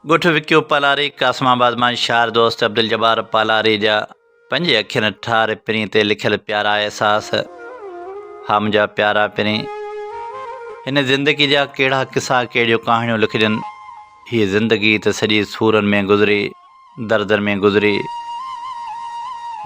ڳوٺ وڪيو پالاري قاسم آباد مان شاعر دوست عبدالجبار پالاري جا پنهنجي اکين ٺار پرين تي لکيل پيارا احساس ها منهنجا پيارا پرين هن زندگي جا ڪهڙا قصا ڪهڙيون ڪهاڻيون لکجن هي زندگي ته سڄي سورن ۾ گذري دردن ۾ گذري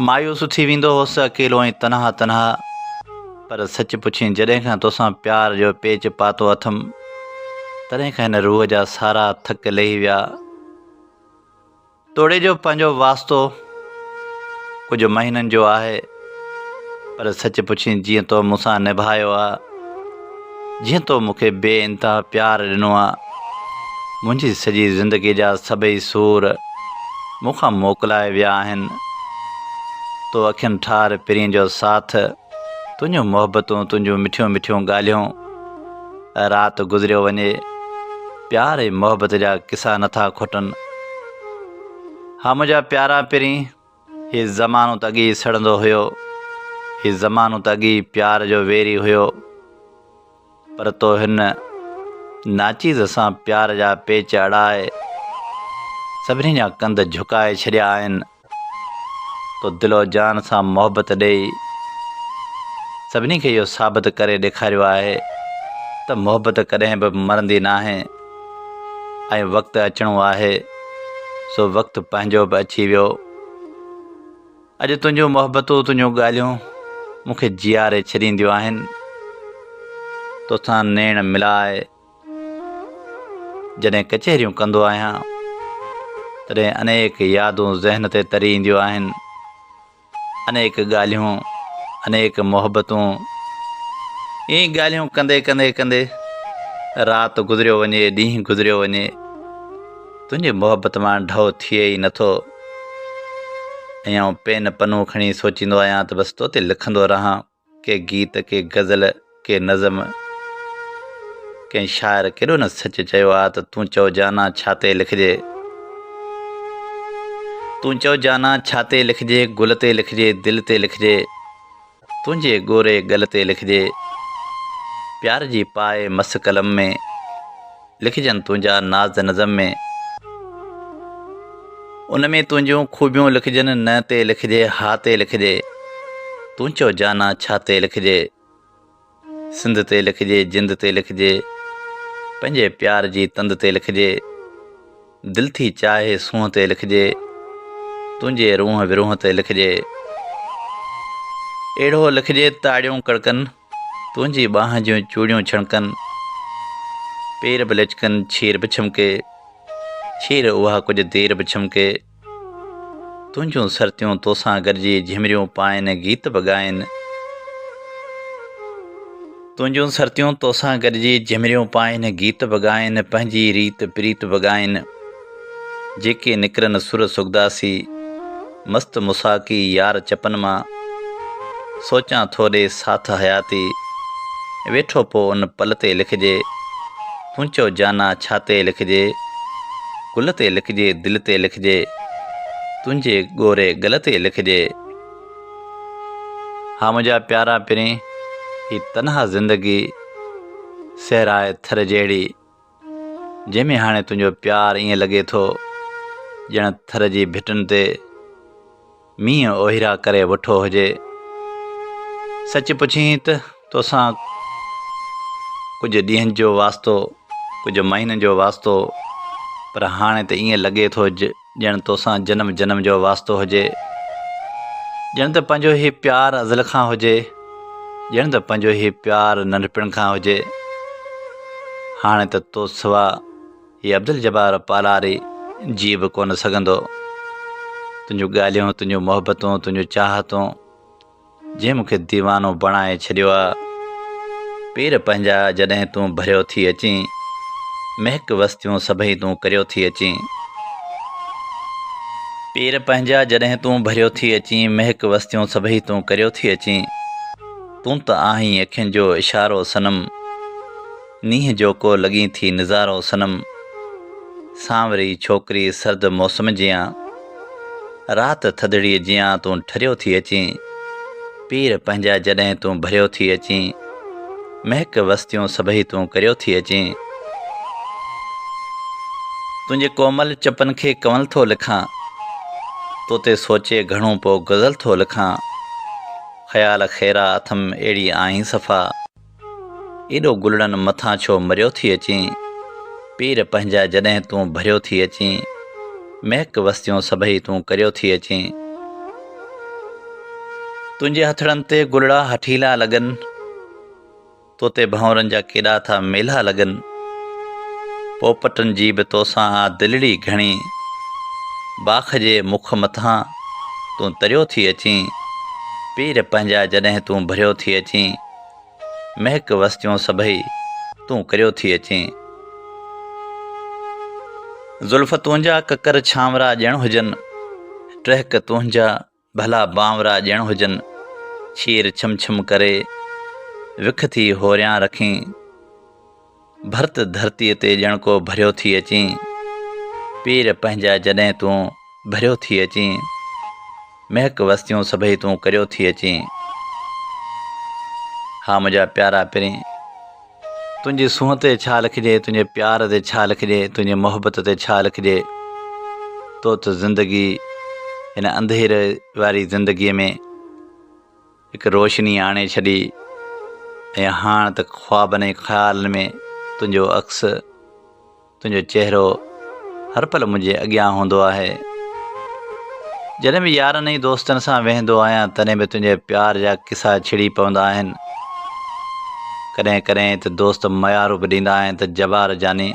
مايوس ٿي ويندو هوس اڪيلو ۽ تنها تنها پر سچ پڇين جڏهن کان توسان پيار جو پيچ پاتو اٿم تڏهن کان هن روح جا سارا ٿڪ لهي ويا توڙي جو پنهنجو واسطو ڪجهه مهينن جو آهي پر سچ پڇين جيئن تو مون سان نڀايو آ جيئن تو مون کي بي انتها پيار ڏنو آ منهنجي سڄي زندگي جا سڀئي سور مون کان موڪلائي ويا آهن تو اکين ٺار پرين جو ساٿ تنهنجون محبتون تنهنجون مٺيون مٺيون ڳالهيون رات گذريو وڃي پيار ۽ محبت جا قصا نٿا کٽن ها منهنجا پيارا پرين هي زمانو ته اڳي ئي سڙندو هيو. هي زمانو ته اڳي ئي پيار جو ويري هيو. پر تو هن ناچيز سان پيار جا پيچ اڙائي سڀني جا ڪنڌ جهڪائي ڇڏيا آهن. تو دل و جان سان محبت ڏيئي سڀني کي اهو ثابت ڪري ڏيکاريو آهي ته محبت ڪڏهن به مرندي ناهي. ۽ وقت اچڻو آهي سو وقت پنهنجو به اچي ويو اڄ تنهنجون محبتون تنهنجون ڳالهيون مون کي جياري ڇڏينديون آهن توسان نيڻ ملائي جڏهن ڪچهريون ڪندو آهيان تڏهن انيڪ يادون ذهن تي تري اينديون آهن انيڪ ڳالهيون انيڪ محبتون ائين ڳالهيون ڪندي ڪندي ڪندي رات گذريو وڃي ڏينهن گذريو وڃي تنهنجي محبت مان ڍؤ ٿئي ئي نٿو ۽ آئون پين پنو کڻي سوچيندو آهيان ته بس تو تي لکندو رهان ڪي گيت، ڪي غزل، ڪي نظم، ڪنهن شاعر ڪيڏو نه سچ چيو آ ته تون چئو جانا ڇا تي لکجي، تون چئو جانا ڇا تي لکجي، گل تي لکجي، دل تي لکجي، تنهنجي ڳوري ڳل تي لکجي، پيار جي پائي مس قلم ۾. لکجن تنهنجا ناز نظم ۾. ان ۾ تنهنجون خوبيون لکجن نه تي لکجي ها تي لکجي تون چئو جانا ڇا تي لکجي سنڌ تي لکجي جند تي لکجي پنهنجي پيار جي تند تي لکجي دل ٿي چاهي سونهن تي لکجي تنهنجي روح ورونهه تي لکجي اهڙو لکجي تاڙيون ڪڙڪن تنهنجي ٻانهن جون چوڙيون ڇڻڪن، پير به لچڪن ڇير به ڇمڪي، ڇير اها ڪجهه دير به ڇمڪي، تنهنجون سرتيون توسان گڏجي جهمريون پائن، گيت به ڳائن. تنهنجون سرتيون توسان گڏجي جهمريون پائن، گيت به ڳائن، پنهنجي ريت پريت به ڳائن. جيڪي نڪرن سر سگداسي، مست مساقي يار چپن مان، سوچان ٿو ڏي ساٿ حياتي، ويٺو پو ان پل تي لکجي، تون چئو جانا ڇا تي لکجي، گل تي لکجي دل تي لکجي، تنهنجي ڳوري ڳل تي لکجي. ها منهنجا پيارا پرين، هي تنها زندگي صحرائي ٿر جهڙي. جنهن ۾ هاڻي تنهنجو پيار ائين لڳي ٿو ڄڻ ٿر جي ڀٽن تي مينهن اوهيرا ڪري وٺو هجي سچ پڇين ته توسان ڪجهه ڏينهن جو واسطو ڪجهه مهينن جو واسطو پر هاڻي ته ائين لڳي ٿو ڄڻ توسان جنم جنم جو واسطو هجي ڄڻ ته پنهنجو هي پيار ازل کان هجي ڄڻ ته پنهنجو هي پيار ننڍپڻ کان هجي هاڻي ته تو سوا هي عبدالجبار پالاري جي به ڪونه سگهندو تنهنجون ڳالهيون تنهنجون محبتون تنهنجون چاهتون جنهن مون کي ديوانو بڻائي ڇڏيو آ پير پنهنجا جڏهن تون ڀريو ٿي اچين مهڪ وستيون سڀئي تون ڪريو ٿي اچين پير پنهنجا جڏهن تون ڀريو ٿي اچين مهڪ وستيون سڀئي تون ڪريو ٿي اچين تون ته آهين اکين جو اشارو صنم نينهن جو ڪو لڳين ٿي نظارو صنم سانوري ڇوڪري سرد موسم جيان رات ٿڌڙي جيان تون ٺريو ٿي اچين پير پنهنجا جڏهن تون ڀريو ٿي اچين مهڪ وستيون سڀئي تون ڪريو ٿي اچين تنهنجي ڪومل چپن کي ڪنول ٿو لکان تو تي سوچي گهڻو پو غزل ٿو لکان خيال خيرا اٿم اهڙي آهين صفا ايڏو گلڙن مٿان ڇو مريو ٿي اچين پير پنهنجا جڏهن تون ڀريو ٿي اچين مهڪ وستيون سڀئي تون ڪريو ٿي اچين تنهنجي هٿڙن تي گلڙا هٺيلا لڳن تو تي ڀنورن جا ڪيڏا ٿا ميلا لڳن پوپٽن جي به توسان آ دلڙي گهڻي باخ جي مک مٿان تون تريو ٿي اچين پير پنهنجا جڏهن تون ڀريو ٿي اچين مهڪ وستيون سڀئي تون ڪريو ٿي اچين. زلف تنهنجا ڪڪر ڇانورا ڄڻ هجن، ٽهڪ تنهنجا ڀلا بانورا ڄڻ هجن، ڇير ڇم ڇم ڪري، وک ٿي هوريان رکين. ڀرت ڌرتيء تي ڄڻ ڪو ڀريو ٿي اچين، پير پنهنجا جڏهن تون ڀريو ٿي اچين، مهڪ وستيون سڀئي تون ڪريو ٿي اچين. ها منهنجا پيارا پرين! تنهنجي سونهن تي ڇا لکجي، تنهنجي پيار تي ڇا لکجي، تنهنجي محبت تي ڇا لکجي، تو ته زندگي هن انڌيري واري زندگيء ۾. هڪ روشني آڻي ڇڏي ۽ هاڻ ته خوابن ۽ خيالن ۾ تنهنجو عڪس تنهنجو چهرو هر پل منهنجي اڳيان هوندو آهي جڏهن به يارن ۽ دوستن سان ويهندو آهيان تڏهن به تنهنجي پيار جا قصا ڇڙي پوندا آهن ڪڏهن ڪڏهن ته دوست ميارو به ڏيندا آهن ته جبار جاني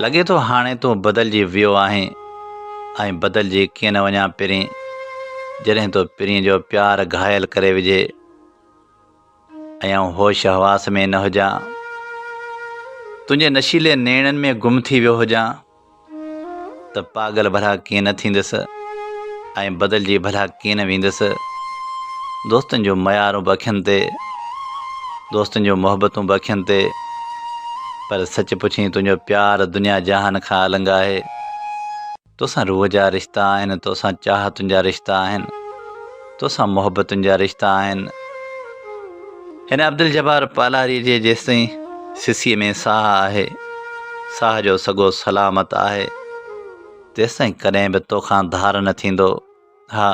لڳي ٿو هاڻي تون بدلجي ويو آهين ائين بدلجي ڪيئن نه وڃان پرين جڏهن تو پرين جو پيار گهايل ڪري وجهي ۽ آئون هوش حواس ۾ نه هجان تنهنجي نشيلي نيڻن ۾ گم ٿي ويو هجان ته پاگل ڀلا ڪيئن نه ٿيندس ائين بدلجي ڀلا ڪيئن نه ويندس دوستن جون ميارون به اکين تي دوستن جون محبتون به اکين تي پر سچ پڇين تنهنجو پيار دنيا جهان کان النگ آهي توسان روح جا رشتا آهن توسان چاهتن جا رشتا آهن توسان محبتن جا رشتا آهن هن عبدالجبار پالاري جي جيستائين سسي ۾ ساهه آهي ساهه جو سڳو سلامت آهي تيستائين ڪڏهن به توکان ڌار نه ٿيندو. ها!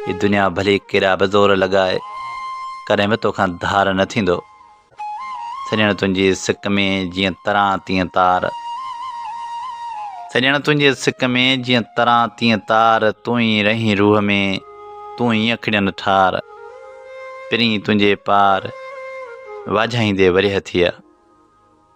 هي دنيا ڀلي ڪيڏا به زور لڳائي، ڪڏهن به توکان ڌار نه ٿيندو. سڄڻ تنهنجي سڪ ۾ جيئن تران تيئن تار. سڄڻ تنهنجي سڪ ۾ جيئن تران تيئن تار، تون ئي رهين روح ۾، تون ئي اکڙين ٺار. پرين تنهنجي پار، واجهائيندي ورهيه ٿئي.